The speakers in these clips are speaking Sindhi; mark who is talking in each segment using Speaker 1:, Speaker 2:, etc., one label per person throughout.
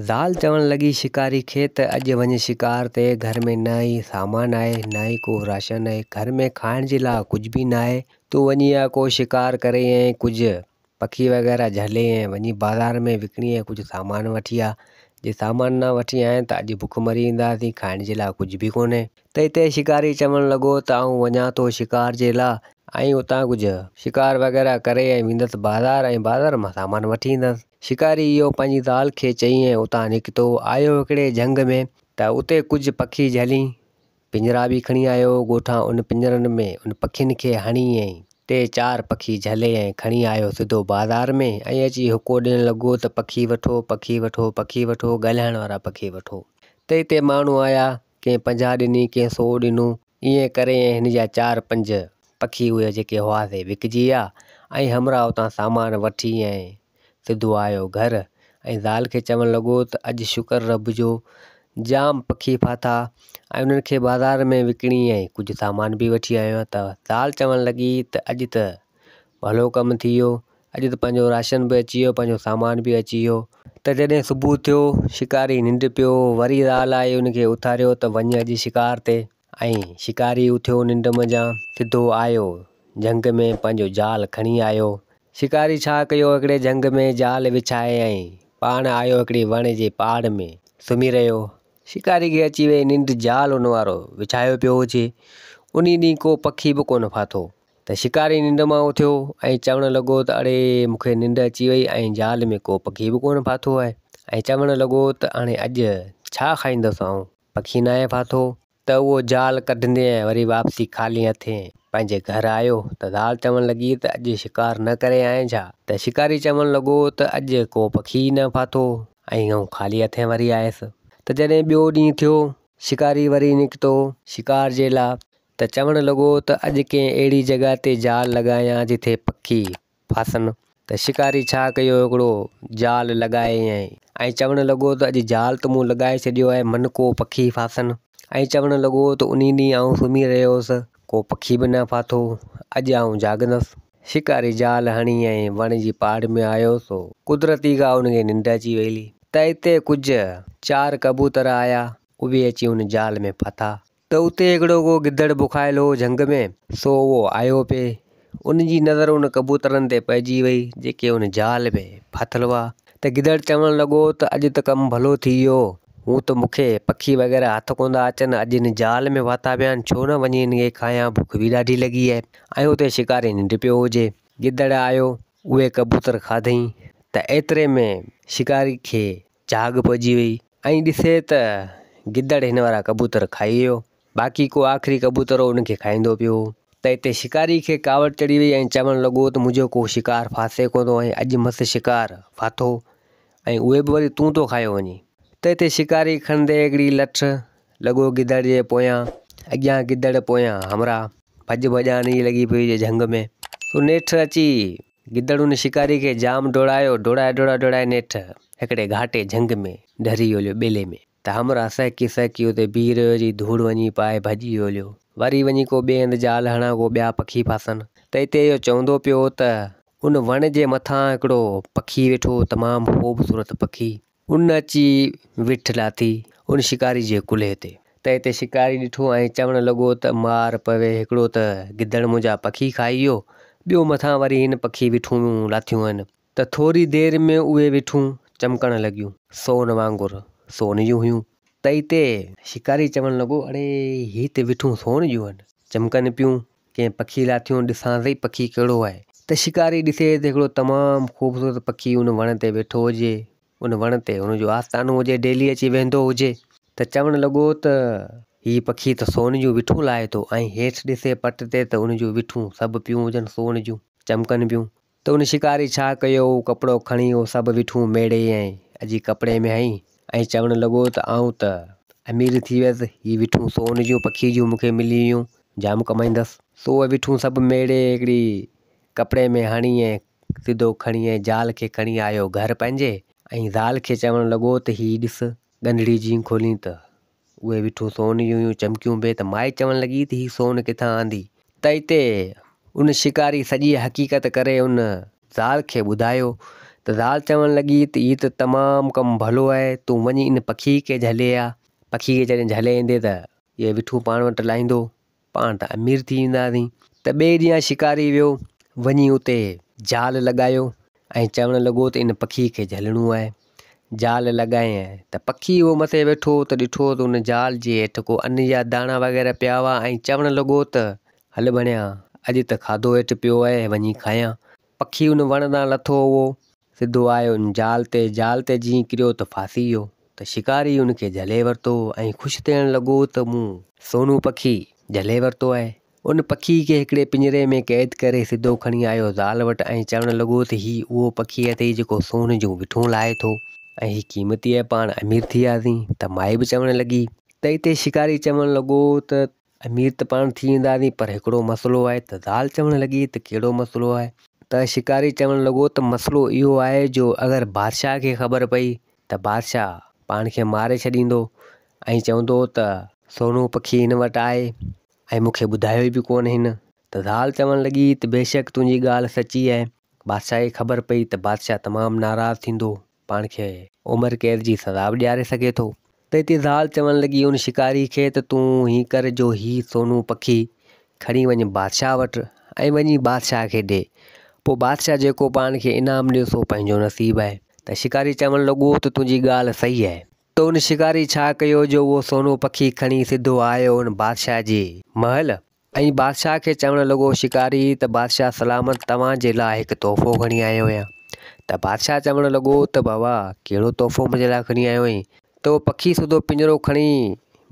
Speaker 1: زال چوڻ لڳي شڪاري کي ته اڄ وڃ شڪار تي، گهر ۾ نه ئي سامان آهي، نه ئي ڪو راشن آهي، گهر ۾ کائڻ جي لاء ڪجهه به نه آهي، تون وڃي ها ڪو شڪار ڪري ۽ ڪجهه پکي وغيره جهلي ۽ وڃي بازار ۾ وڪڻي ۽ ڪجهه سامان وٺي آ، جي سامان نه وٺي آين ته اڄ بک مري اينداسين، کائڻ جي لاء ڪجهه به ڪونهي. تنهن تي شڪاري چوڻ لڳو ته آئون وڃان ٿو شڪار جي لاء. ۽ اتان ڪجهه شڪار وغيره ڪري ۽ ويندس بازار ۽ بازار مان سامان وٺي ايندس. شڪاري اهو پنهنجي زال کي چئي ۽ اتان نڪتو آيو هڪڙي جهنگ ۾ ته اتي ڪجهه پکي جهلين پڃرا به کڻي آيو ڳوٺان ان پڃرن ۾ ان پکين کي هڻي ۽ ٽي چار پکي جهلي ۽ کڻي آيو سڌو بازار ۾ ۽ اچي هڪو ڏيڻ لڳو ته پکي وٺو پکي وٺو پکي وٺو ڳالهائڻ وارا پکي وٺو تنهن تي ماڻهو آيا ڪنهن پنجاهه ڏني، ڪنهن سو ڏنو. ائين ڪري ۽ هن جا چار پنج پکي اهي جيڪي هئا سي وڪجي ويا ۽ همراهه اتان سامان وٺي ۽ سڌو آيو گهر ۽ زال کي چوڻ لڳو ته اڄ شڪر رب جو جام پکي ڦاٿا ۽ انهن کي بازار ۾ وڪڻي ۽ ڪجهه سامان به وٺي آيو آهيان ته زال چوڻ لڳي ته اڄ ته ڀلو ڪم ٿي ويو اڄ ته پنهنجو راشن به اچي ويو پنهنجو سامان به اچي ويو. ته جڏهن صبح ٿيو شڪاري ننڊ پيو وري راهه لائي ان کي اٿاريو ته وڃ اڄ شڪار تي. ۽ شڪاري اٿيو ننڊ منجهان سڌو آيو جهنگ ۾ پنهنجو جال کڻي آيو. شڪاري ڇا ڪيو هڪڙي جهنگ ۾ جال وڇائي ۽ پاڻ آيو هڪڙي وڻ جي پاڙ ۾ سمهي رهيو. شڪاري کي اچي وئي ننڊ جال ان وارو وڇايو پيو هجي انهي ڏينهن ڪو پکي به ڪونه ڦاٿو. ته شڪاري ننڊ مان اٿيو ۽ چوڻ لڳو ته اڙي مون کي ننڊ اچي وئي ۽ جال ۾ ڪو پکي به ڪونه ڦاٿو آهي ۽ چوڻ لڳو ته هاڻي اڄ ڇا کائيندس آئون پکي ناهي ڦاٿو. ته اهو جال ڪڍندي ۽ وري واپسي خالي هٿين پنهنجي گهر آيو ته زال چوڻ لڳي ته اڄ شڪار نه ڪري آئين ڇا ته شڪاري چوڻ لڳو ته اڄ ڪو پکي ئي نه ڦاٿو ۽ آئون خالي هٿين وري آيس ته جڏهن ٻيو ڏينهن ٿيو شڪاري وري نڪتو شڪار جي لاء ته چوڻ لڳو ته اڄ ڪنهن اهڙي جڳهه تي جال لڳايان جتي پکي ڦاسن. ته شڪاري ڇا ڪيو هڪڙو جال لڳايائين ۽ چوڻ لڳو ته اڄ جال ته مون لڳائي ڇڏيو آهي من ڪو پکي ڦاسن. ۽ چوڻ لڳو ته انهي ڏينهن آئون سمهي رهيو هوس ڪو پکي به نه ڦاٿو اڄ آئون جاڳندس. شڪاري جال هڻي ۽ وڻ جي پاڙ ۾ آيو سو قدرتي کان ان کي ننڊ اچي ويئلي ته اتي ڪجهه چار ڪبوتر آيا اهي اچي ان جال ۾ ڦاٿا ته اتي هڪڙو ڪو گدڙ بکايل هو جهنگ ۾، سو اهو آيو پئي، ان جي نظر ان ڪبوترن تي پئجي وئي، جيڪي ان جال ۾ ڦاٿل هئا، ته گدڙ چوڻ لڳو ته اڄ ته ڪم ڀلو ٿي ويو، هون ته مون کي پکي وغيره هٿ ڪوندا اچن، اڄ ان جال ۾ ڦاٿا پيا آهن، ڇو نه وڃي هن کي کايان، بک به ڏاڍي لڳي آهي، ۽ اتي شڪاري ننڊ پيو هجي. گدڙ آيو، اهي ڪبوتر کاڌئين، ته ايتري ۾ شڪاري کي جهاڳ پئجي وئي. ائين ڏسي ته گدڙ هن وارا ڪبوتر کائي ويو. باقي ڪو آخري ڪبوتر هو ان کي کائيندو پيو هو. ته اتي شڪاري کي ڪاوڙ چڙهي وئي ۽ چوڻ لڳو ته منهنجو ڪو شڪار ڦاسي ڪونه ٿو ۽ اڄ مس شڪار ڦاٿو ۽ اهي به وري تون ٿو کايو وڃين. ته اتي شڪاري کڻندي هڪڙي لٺ لڳو گدڙ جي پويان، اڳيان گدڙ پويان همراهه. ڀڄ ڀڄان ئي لڳي پئي هئي جهنگ ۾. سو نيٺ اچي گدڙ ان شڪاري کي جام ڊوڙايو، ڊوڙائي ڊوڙائي ڊوڙائي نيٺ هڪڙي گهاٽي جهنگ ۾ ڍري هوليو ٻيلي ۾ ته همراهه سهڪي سهڪي اتي بيهي رهيو جي ڌوڙ وڃي پائي ڀڄي هوليو وري وڃي ڪو ٻئي هنڌ جال هڻان ڪو ٻيا پکي ڦاسن ته اتي اهو چوندو پيو ته ان وڻ جي مٿان هڪڙو پکي ويٺو تمام خوبصورت پکي ان اچي ويٺ لاٿي ان شڪاري جي ڪلهي تي. ته اتي شڪاري ڏٺو ۽ چوڻ لڳو ته مار پوي هڪڙو ته گدڙ منهنجا پکي کائي ويو، ٻيو مٿان وري هن پکي ويٺون لاٿيون هن ته ٿوري دير ۾ اهي ويٺون چمڪڻ لڳيون. سون وانگر سون جون هيون. ته اتي شڪاري چوڻ لڳو اڙي هي ته ويٺون سون جون هن، چمڪن پيون ڪنهن پکي لاء ٿيون ڏسان سهي پکي ڪهڙو آهي. ته شڪاري ڏسي ته هڪڙو تمام خوبصورت پکي ان وڻ تي ويٺو هجي ان وڻ تي هن جو آستانو هجي ڊيلي اچي ويهندو هجي ته چوڻ لڳو ته هي پکي ته سون جون وٺون لاهي ٿو ۽ هيٺ ڏسي پٽ تي ته ان جون وٺون سڀ پيون هجن سون جون چمڪن پيون ته ان شڪاري ڇا ڪيو، اهو ڪپڙو کڻي اهو سڀ وٺون ميڙي ۽ اجي ڪپڙي ۾ هنئي ۽ چوڻ لڳو ته آئون ته امير ٿي ويس، هي وٺون سون جون پکي جون مون کي ملي ويون، جام ڪمائيندس. سو اهي وٺون سڀ ميڙي هڪڙي ڪپڙي ۾ هڻي ۽ سڌو کڻي ۽ زال کي کڻي آيو گهر پنهنجي ۽ زال کي چوڻ لڳو ته هي ڏس ڳنڍڙي جيئن کولين ته اهي وٺو سون جون هيون چمڪيون به ته مائي چوڻ لڳي ته هي سون ڪٿان آندي؟ تئي تي ان شڪاري سڄي حقيقت ڪري ان زال کي ٻڌايو ته زال چوڻ لڳي ته هي ته تمام ڪم ڀلو آهي تون وڃي ان پکي کي جهلي آ، پکي کي جڏهن جهلي ايندي ته اهي وٺون پاڻ وٽ لاهيندو پاڻ ته امير ٿي وينداسين. ته ٻئي ڏينهن شڪاري ويو، وڃي اتي جال لڳايو ۽ چوڻ لڳو ته ان پکي کي جهلڻو آهي. جال لڳايائين ته پکي اهو مٿي ويٺو ته ڏٺو ته ان جال جي هيٺ ڪو ان جا داڻا وغيره پيا هئا ۽ چوڻ لڳو ته هل ڀڻيا اڄ ته کاڌو هيٺ پيو آهي، وڃي کايان. پکي ان وڻ تان لٿو هئو سڌو آء ان جال تي جال تي جيئن ڪريو ته ڦاسي ويو ته شڪاري ان کي جهلي ورتو ۽ خوش ٿيڻ لڳو ته مون سونو پکي جهلي ورتو آهي. ان پکي کي هڪڙي پڃري ۾ قيد ڪري سڌو کڻي آيو زال وٽ ۽ چوڻ لڳو ته هي اهو پکي اٿئي جيڪو سون جون وٺون لاهي ٿو ۽ هي قيمتي آهي پاڻ امير ٿي وياسين ته مائي به چوڻ لڳي ته هتي شڪاري چوڻ لڳو ته امير ته پاڻ ٿي وينداسين پر هڪڙو مسئلو آهي ته زال چوڻ لڳي ته ڪهڙو مسئلو آهي؟ ته شڪاري چوڻ لڳو ته مسئلو اهو آهي جو اگر بادشاهه کي خبر پئي ته بادشاهه پاڻ کي ماري ڇڏيندو ۽ چوندو ته سونو پکي هن وٽ آهي ۽ مون کي ٻڌايو به ڪونه هن ته زال چوڻ لڳي ته بيشڪ تنهنجي ڳالهه سچي آهي بادشاهه کي خبر پئي ته بادشاهه تمام ناراض ٿيندو پاڻ کي عمر قيد جي سزا به ڏياري سگهي ٿو. ته اتي زال چوڻ لڳي ان شڪاري کي ته تون ائين ڪر جو هي سونو پکي کڻي وڃ بادشاهه وٽ ۽ وڃي بادشاهه کي ڏي پوء بادشاهه جيڪو پاڻ کي انعام ڏيو سو پنهنجو نصيب آهي. ته شڪاري چوڻ لڳو ته تنهنجي ڳالهه صحيح آهي. ته ان شڪاري ڇا ڪيو جو اهو سونو پکي کڻي سڌو آيو ان بادشاهه جي محل. ۽ بادشاهه کي چوڻ لڳو، شڪاري، ته بادشاهه سلامت توهان جي لاء هڪ تحفو کڻي آيو آهيان. ته بادشاهه چوڻ لڳو، ته بابا، ڪهڙو تحفو منهنجي لاء کڻي آيو آهين؟ ته اهو پکي سڌو پڃرو کڻي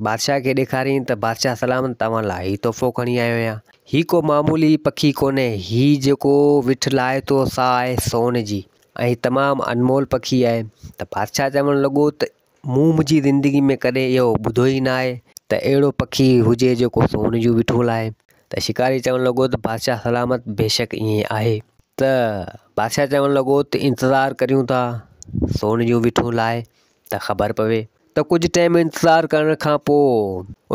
Speaker 1: بادشاهه کي ڏيکارين ته بادشاهه سلامت توهان لاء هي تحفو کڻي آيو آهيان. هي ڪو معمولي پکي ڪونهي، هي جيڪو وٺ لاهي ٿو سا آهي سون جي ۽ هي تمام انمول پکي آهي. ته بادشاهه چوڻ لڳو، ته مون منهنجي زندگي ۾ ڪڏهن اهو ٻڌو ئي نه آهي ته اهڙو پکي هجي جيڪو سون جون وٺون لاهي ته شڪاري چوڻ لڳو ته بادشاهه سلامت بيشڪ ائين آهي ته بادشاهه چوڻ لڳو ته انتظار ڪريون ٿا سون جون وٺون لاهي ته خبر پوي ته ڪجهه ٽيم انتظار ڪرڻ کان پوء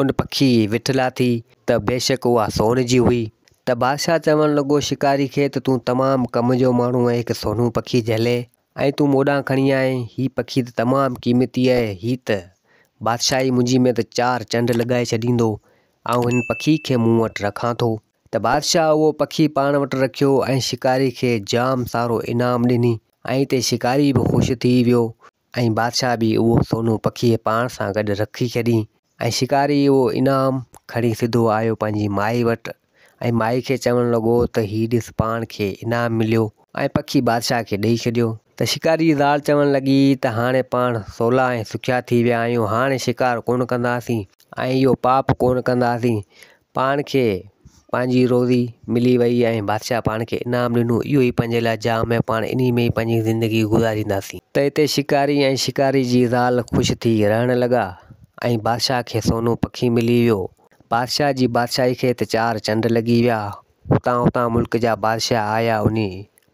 Speaker 1: ان پکي وٺ لاٿي ته بيشڪ اها سون جي هئي ته بادشاهه چوڻ لڳو شڪاري کي ته تون تمام ڪم جو ماڻهو ۽ هڪ سونهون پکي جهلي ۽ تون مون ڏانهن کڻي آئين هي پکي ته تمام قيمتي آهي، هي ته بادشاهي منهنجي ۾ ته چار چنڊ لڳائي ڇڏيندو، آئون هن پکي کي مون وٽ رکان ٿو. ته بادشاهه اهو پکي پاڻ وٽ رکيو ۽ شڪاري کي جام سارو انعام ڏني ۽ تي شڪاري به خوش ٿي ويو ۽ بادشاهه به اهو سونو پکي پاڻ سان گڏ رکي ڇڏين ۽ شڪاري اهو انعام کڻي سڌو آيو پنهنجي مائي وٽ ۽ مائي کي چوڻ لڳو ته هي ڏس پاڻ کي انعام مليو ۽ پکي بادشاهه کي ڏئي ڇڏيو. ته شڪاري جي زال چوڻ لڳي ته هاڻي پاڻ سولا ۽ سکيا ٿي ويا آهيون هاڻي شڪار ڪونه ڪنداسين ۽ اهو پاپ ڪونه ڪنداسين پاڻ کي پنهنجي روزي ملي وئي ۽ بادشاهه پاڻ کي انعام ڏنو، اهو ئي پنهنجي لاء جام ۽ پاڻ انهي ۾ ئي پنهنجي زندگي گذارينداسين. ته هتي شڪاري ۽ شڪاري جي زال خوش ٿي رهڻ لڳا ۽ بادشاهه کي سونو پکي ملي ويو. بادشاهه جي بادشاهي کي ته چار چنڊ لڳي ويا. هتان هتان ملڪ جا بادشاهه آيا انهي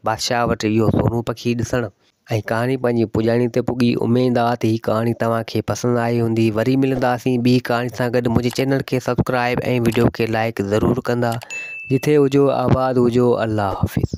Speaker 1: بادشاهه وٽ اهو سورون پکي ڏسڻ ۽ ڪهاڻي پنهنجي پڄاڻي تي پڳي اميد آ ته هي ڪهاڻي توهان کي پسند آئي هوندي وري ملنداسين ٻي ڪهاڻي سان گڏ منهنجي چينل کي سبسڪرائب ۽ وڊيو کي لائڪ ضرور ڪندا جٿي هجو آباد هجو الله حافظ.